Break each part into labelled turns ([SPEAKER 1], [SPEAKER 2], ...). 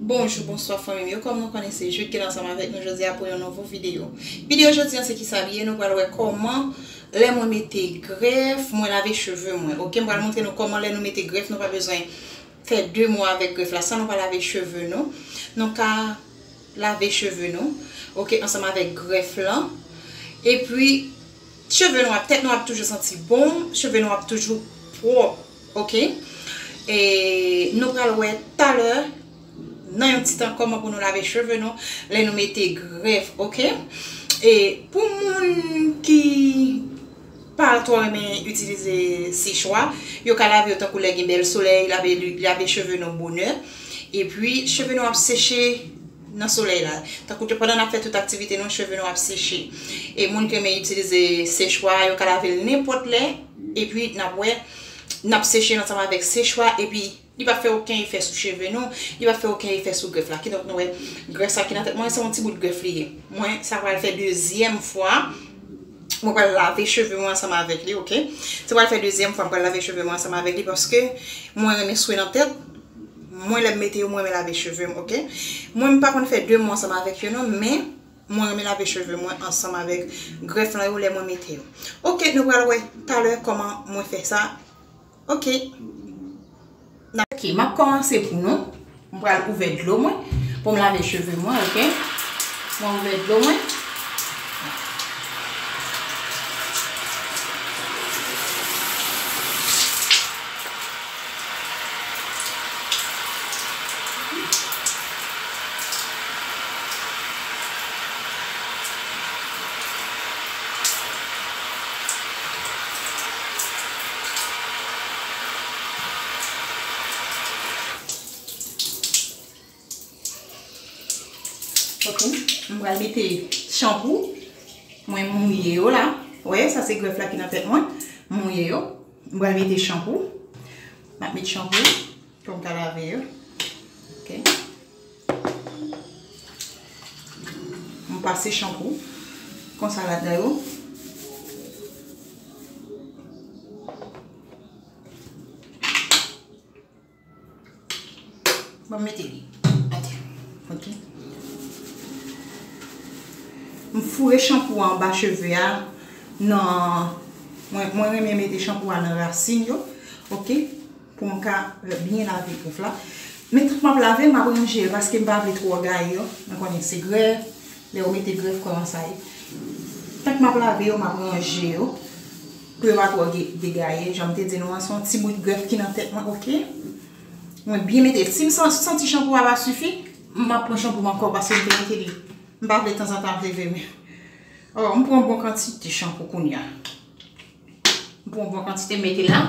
[SPEAKER 1] Bonjou bonswa fanmim yo kòm nou konnen se Jude ki la ansanm avèk nou jodi a pou yon nouvo video video jodi a se kisa li ye nou pral wè kòman lè mwen mete grèf mwen lave cheve mwen ok mwen pral montre nou kòman lè nou mete grèf nou pa bezwen fè 2 mwa avèk grèf la san nou pa lave cheve nou nou ka lave cheve nou ok ansanm avèk grèf lan epi cheve nou ap tèt nou ap toujou santi bon cheve nou ap toujou pwòp Ok e nou pral wè talè nan yon ti tan kòman pou nou lave cheve nou lè nou mete grèf ok e pou moun ki pa twò renmen itilize sechwa yo ka lave yo tankou lè gen bèl solèy lave cheve nou bonè epi cheve nou ap seche. nan solèy la tankou pandan nap fè tout aktivite nou cheve nou ap seche e moun ki renmen itilize sechwa yo ka lavel nenpòt lè epi nap wè nap seche ansanm avèk sechwa epi li pa fè oken efè sou cheve nou li pa fè oken efè sou grèf la kidonk nou wè grèf sa ki nan tèt mwen se yon ti bout grèf li ye mwen sa pral fè dezyèm fwa. Mwen pral lave cheve mwen ansanm avèk li ok Se pral fè dezyèm fwa m pral lave cheve mwen ansanm avèk li paske mwen renmen swen nan tèt Mwen lè m mete yo m renmen lave cheve m ok Mwen m pa konn fè 2 mwen ansanm avèk yo non men Mwen renmen lave cheve mwen ansanm avèk grèf lan yo lè mwen mete yo Ok nou pral wè talè kòman mwen fè sa Ok. Ok, m ap kòmanse pou nou. M pral ouvè dlo mwen pou m lave cheve mwen, ok. Mwen ouvè dlo mwen. Ok, m pral mete chanpou Mwen mouye yo la Ou wè, sa se grèf la ki nan tèt mwen M mouye yo M pral mete chanpou M ap met chanpou Pou m ka lave yo. Ok. M pase chanpou. Konsa la dan yo. Bon mete li. Ate. Ok. M foure chanpou an ba cheve a. Nan. Mwen reme mete chanpou an nan rasin yo. Ok. Pou m ka byen lave pouf la. Men tout map lave map ranje yo paske m pa vle twò gaye yo. Mwen konnen se grèf, lè yo mete grèf kòman sa ye. Tank map lave yo map ranje yo pou yo pa twò degaye. Jan m te di nou an se yon ti bout grèf ki nan tèt mwen ok. Mwen byen mete, si m santi chanpou a pa sifi, map pran chanpou m ankò paske m te mete li. M pa vle tanzantan ap leve men. M pran bon kantite chanpou kounya. M pran yon bon kantite m mete la.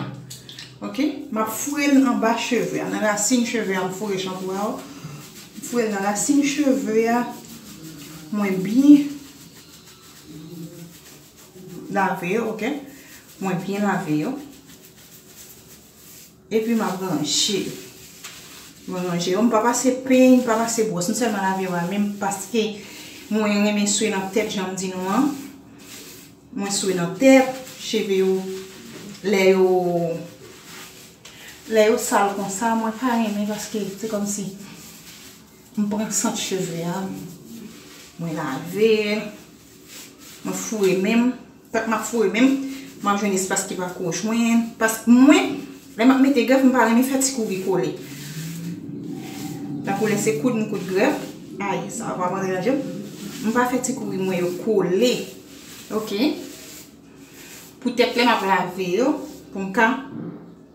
[SPEAKER 1] Ok. M ap foure l anba cheve a. Nan rasin cheve a m foure chanpou a. M foure l nan rasin cheve a. Mwen byen lave yo. Ok. Mwen byen lave yo. Epi m ap ranje. Mwen ranje yo. M pa pase peny, m pa pase bwòs. M sèlman lave yo amèm paske mwen renmen swe nan tèt jan m di nou an. Mwen swe nan tèt. Cheve yo, lè yo, lè yo sal konsa mwen pa renmen paske se kòm si m pran sant cheve a. Mwen lave. Mwen foure men m. Pap map foure menm map jwenn espas ki pa ko jwenn pask mwen lè map mete grèf mpa renmen fè ti kouri kole tankou lè se koud m koud grèf ay sa a pap antre nan jem mpa fè ti kouri mwen yo kole ok pou tèt lè map lave yo poum ka.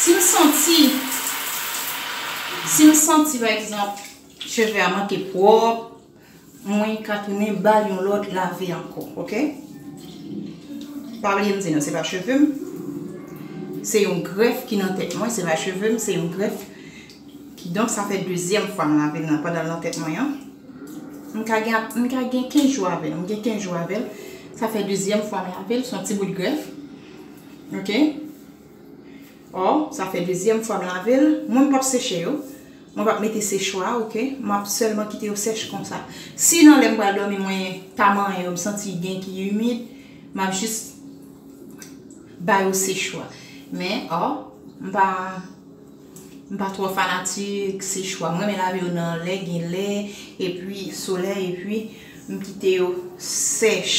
[SPEAKER 1] Si m santi, si m santi pa egzanp cheve a manke pwòp. Mwen ka tounen bal yon lòt lavi ankò ok pa bliye m di nou se pa cheve m se yon grèf ki nan tèt mwen se pa cheve m se yon grèf ki donk sa fè dezyèm fwa m lave l nan pandan l nan tèt mwen an m ka gen ap m ka gen 15 jou avè l m gen 15 jou avè l sa fè dezyèm fwa m lave l son ti bout grèf ok. Ò sa fè dezyèm fwa m lave l mwen m pap seche yo mwen pap mete sechwa ok map sèlman kite yo sèch konsa si nan lè m pral dòmi mwen ta manyen yo m santi gen ki imid map jis ba yo sechwa men ò m pa m pa twò fanatik sechwa m renmen lave yo nan lè gen lè epi solèy epi m kite yo sèch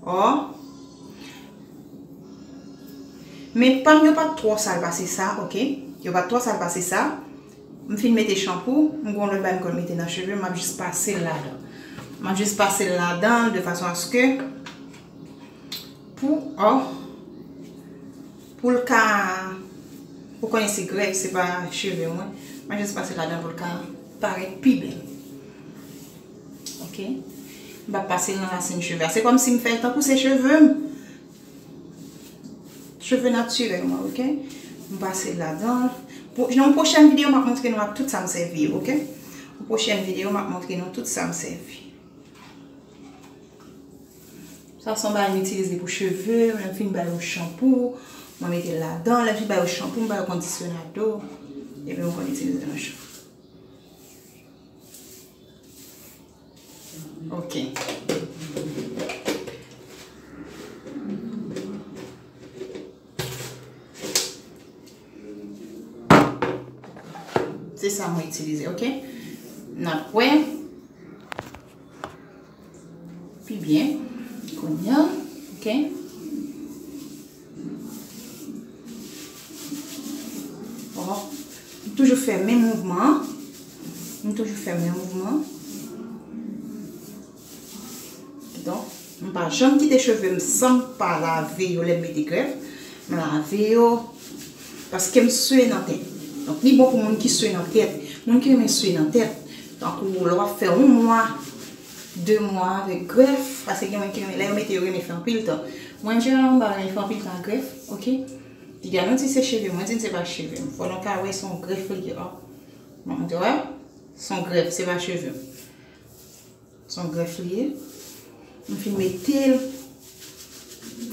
[SPEAKER 1] ò. Men pam yo pat twò sal pase sa ok yo pat twò sal pase sa m fin mete chanpou m gon lòt bagay m konn mete nan chevem map jis pasel ladan map jis pasel ladan de fason aske pou oh poul ka ou konnen se grèf se pa cheve mwen map jis pasel ladan poul ka parèt pi bèl. Ok m pap pasel nan rasin cheve a se kòm sim fèl tankou se chevem cheve natirèl mwen ok m pasel ladanl nan yon pwochèn video map montre nou ak tout sam sèvi yo ok yon pwochèn video map montre nou tout sam sèvi sa son bagay m itilize pou cheve lèm fin bay yon chanpou mwen metel ladan lèm fin bay yon chanpou m bay yon kondisyonado epi mwen konn itilize nan cheve. Se sa mwen itilize, ok? Nan pwè. Pi byen. Konye. Ok? M toujou fè menm mouvman an. M toujou fè menm mouvman an. Don, m pa janm kite cheve m san m pa lave yo lè m mete grèf. M lave yo. Paske m swe nan tèt. Donk li bon pou moun ki swe nan tèt. Moun ki renmen swe nan tèt. Tankou lè w ap fè yon mwa. 2 mwa avèk grèf paske gen moun ki renmen lè yo mete yo renmen fè anpil tan mwen jeneral mwen pa renmen fè anpil tan ak grèf ok li gen nou di se cheve mwen di n se pa cheve m fò nou ka wè son grèf li ye ok bon nou te wè son grèf se pa cheve m son grèf li ye m fin mete l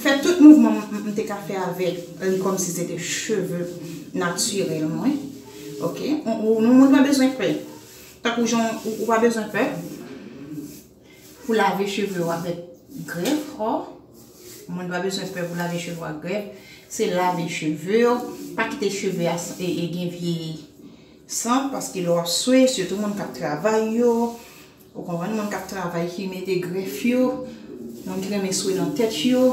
[SPEAKER 1] fè tout mouvman m te ka fè avèk li kòm si se te cheve natirèl mwen ok nou moun pa bezwen pè Tankou jan ou pa bezwen pè pou lave cheve ou avèk grèf o moun pa bezwen pè pou lave cheve ou ak grèf se lave cheve ou pa kite cheve a gen vye sant paske lè wap swe sitou moun kap travay yo ou konprann moun kap travay ki mete grèf yo moun ki renmen swe nan tèt yo.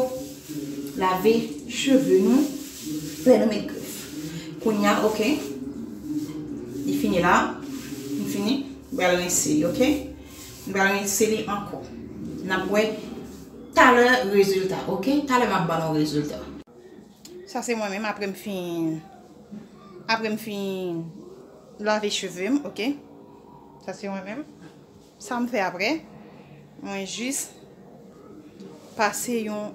[SPEAKER 1] Lave cheve nou lè nou met grèf. Kounya ok. Li fini la. Li fini. Nou pral rense li ok. Nou pral rense li ankò. N ap wè talè rezilta ok. Talè m ap ban nou rezilta. Sa se mwen menm apre m fin apre m fin lave cheve m ok. Sa se mwen menm. Sam fè aprè, mwen jis pase yon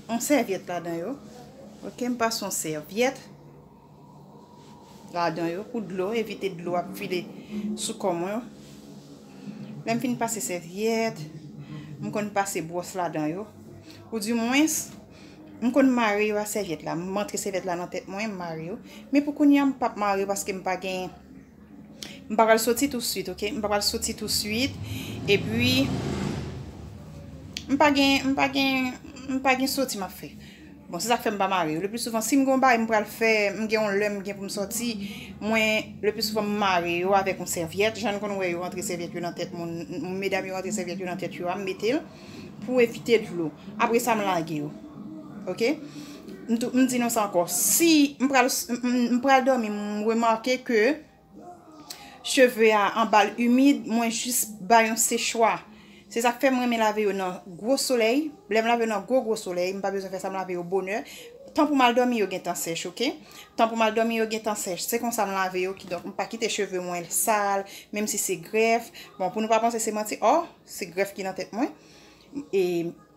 [SPEAKER 1] yon sèvyèt ladan yo ok m pase yon sèvyèt ladan yo pou dlo evite dlo ap file sou kò mwen lèm fin pase sèvyèt m konn pase bwòs ladan yo ou di mwens m konn mare yo a sèvyèt la m antre sèvyèt la nan tèt mwen m mare yo men pou kounya m pap mare yo paske m pa gen M pa pral soti touswit ok. M pa pral soti touswit. E pi. M pa gen. M pa gen. M pa gen soti m ap fè. Bon se sak fè m pa mare yo. Le pli souvan si m gen yon bagay m pral fè. M gen yon lè m gen pou m soti. Mwen le pli souvan m mare yo avèk yon sèvyèt. Jan n konn wè yo rantre sèvyèt yo nan tèt moun. Medam yo rantre sèvyèt yo nan tèt yo a m mete l. pou evite dlo apre sa m lage yo ok m di nou sa anko si m pral domi m remake ke cheve a anbal imid mwen jis bay yon sechwa se sak fè m renmen lave yo nan gwo soley lè m lave yo nan gwo gwo soley m pa bezwen fè sa m lave yo bonè tan pou m al domi yo gentan sech ok tan pou m al domi yo gentan sech se konsa m lave yo kidonk m pa kite cheve mwen sal menm si se grèf bon pou nou pa panse se manti o. Se grèf ki nan tèt mwen. E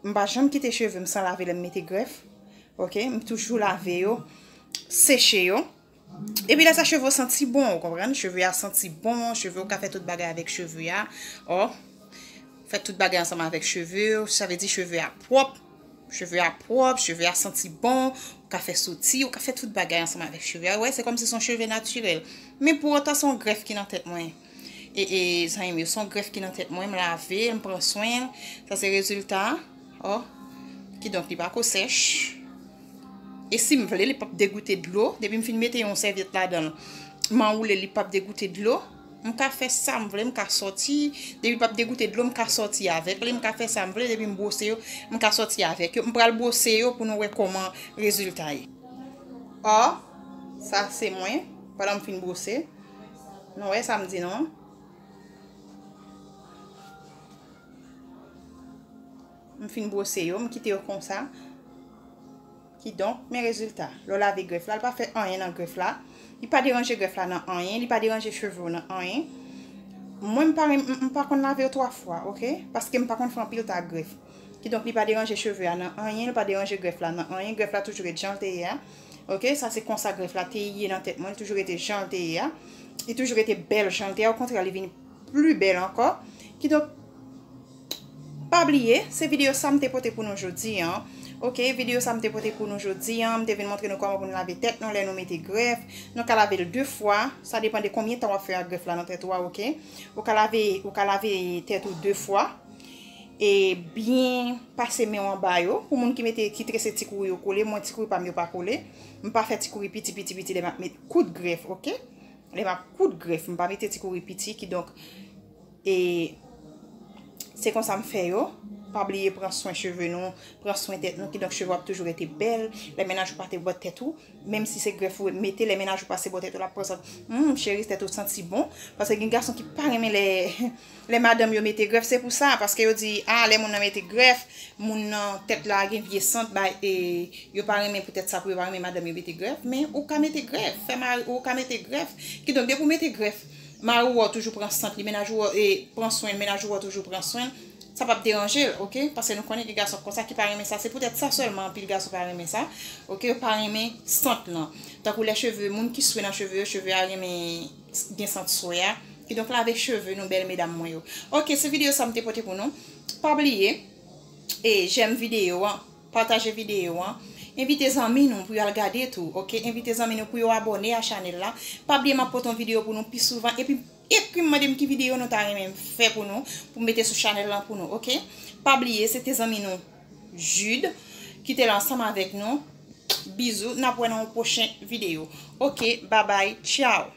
[SPEAKER 1] m pa janm kite cheve m san lave lè m mete grèf. Ok, m toujou lave yo, seche yo. E pi lè sa cheve yo santi bon, ou konprann? Cheve yo santi bon, cheve yo ka fè tout bagay avèk cheve yo. Ou fè tout bagay ansanm avèk cheve yo, sa vle di cheve yo ap pwòp. Cheve yo ap pwòp, cheve yo santi bon, ou ka fè soti, ou ka fè tout bagay ansanm avèk cheve yo. Ou wè, se kòm si son cheve natirèl. Men pou otan son grèf ki nan tèt mwen. ee zanmim yo son grèf ki nan tèt mwen m lave l m pran swen l sa se rezilta o kidonk li pako sèch e sim vle li pap degoute dlo depi m fin mete yon sèvyèt ladanl m anwoulel li pap degoute dlo m ka fè sam vle m ka soti depi pap degoute dlo m ka soti avèk li m ka fè sam vle depi m bwose yo m ka soti avèk yo m pral bwose yo pou nou wè kòman rezilta ye o sa se mwen pandan m fin bwose. Nou wè sa m di nou an. M fin bwose yo, m kite yo konsa. Ki donk, men rezilta. Lè w lave grèf la, li pa fè anyen nan grèf la. Li pa deranje grèf la nan anyen, li pa deranje cheve w nan anyen. Mwen m pa konn lave yo 3 fwa, ok? Paske m pa konn fè anpil ta grèf. Ki donk, li pa deranje cheve a nan anyen, li pa deranje grèf la nan anyen. Grèf la toujou ret jan l te ye a. Ok sa se konsa grèf la te ye nan tèt mwen li toujou rete janl te ye a li toujou rete bèl janl te a okontrè li vini pli bèl ankò kidonk pa bliye se videyo sa mte pote pou nou jodi an ok videyo sa mte pote pou nou jodi an mte vin montre nou kòman pou nou lave tèt nou lè nou mete grèf nou ka lavel de fwa sa depan de konbyen tan wap fè ak grèf la nan tèt ou a ok ou ka lave ou ka lave tèt ou de fwa. E byen pase menw anba yo. Pou moun ki mete ki trese ti kouri yo kole, mwen ti kouri pam yo pa kole. M pa fè ti kouri piti piti piti lè map met kout grèf ok. Lè map kout grèf m pa mete ti kouri piti ki donk e se konsa m fè yo. Pa bliye pran swen cheve nou, pran swen tèt nou ki donk cheve w ap toujou rete bèl. Lè mennaj ou pase bò tèt ou, menm si se grèf ou mete lè mennaj ou pase bò tèt ou lap pran san, humm chérie tèt ou santi bon. Pase gen gason ki pa renmen lè Lè madanm yo mete grèf se pou sa paske yo di a lè moun nan mete grèf moun nan tèt la gen vye sant bay e yo pa renmen poutèt sa pou yo pa renmen madanm yo mete grèf men ou ka mete grèf fè mari ou ka mete grèf kidonk depi ou mete grèf mari ou a toujou pran sant li mennaj ou a pran swen l mennaj ou a toujou pran swen l sa pap deranje l ok paske nou konnen gen gason konsa ki pa renmen sa se poutèt sa sèlman anpil gason pa renmen sa ok yo pa renmen sant lan tankou lè cheve moun ki swe nan cheve yo cheve a renmen. gen sant swe a kidonk lave cheve nou bèl medam mwen yo ok se video sa m te pote pou nou pa bliye e jèm video an pataje video an envite zanmi nou pou yo al gade tou ok envite zanmi nou pou yo abòne a chanèl la pa bliye m ap pote yon video pou nou pi souvan epi ekri m mande m ki video nou ta renmen m fè pou nou pou m mete sou chanèl lan pou nou ok pa bliye se te zanmi nou Jude ki te la ansanm avèk nou bizou n ap wè nan yon pwochen video ok babay tchao.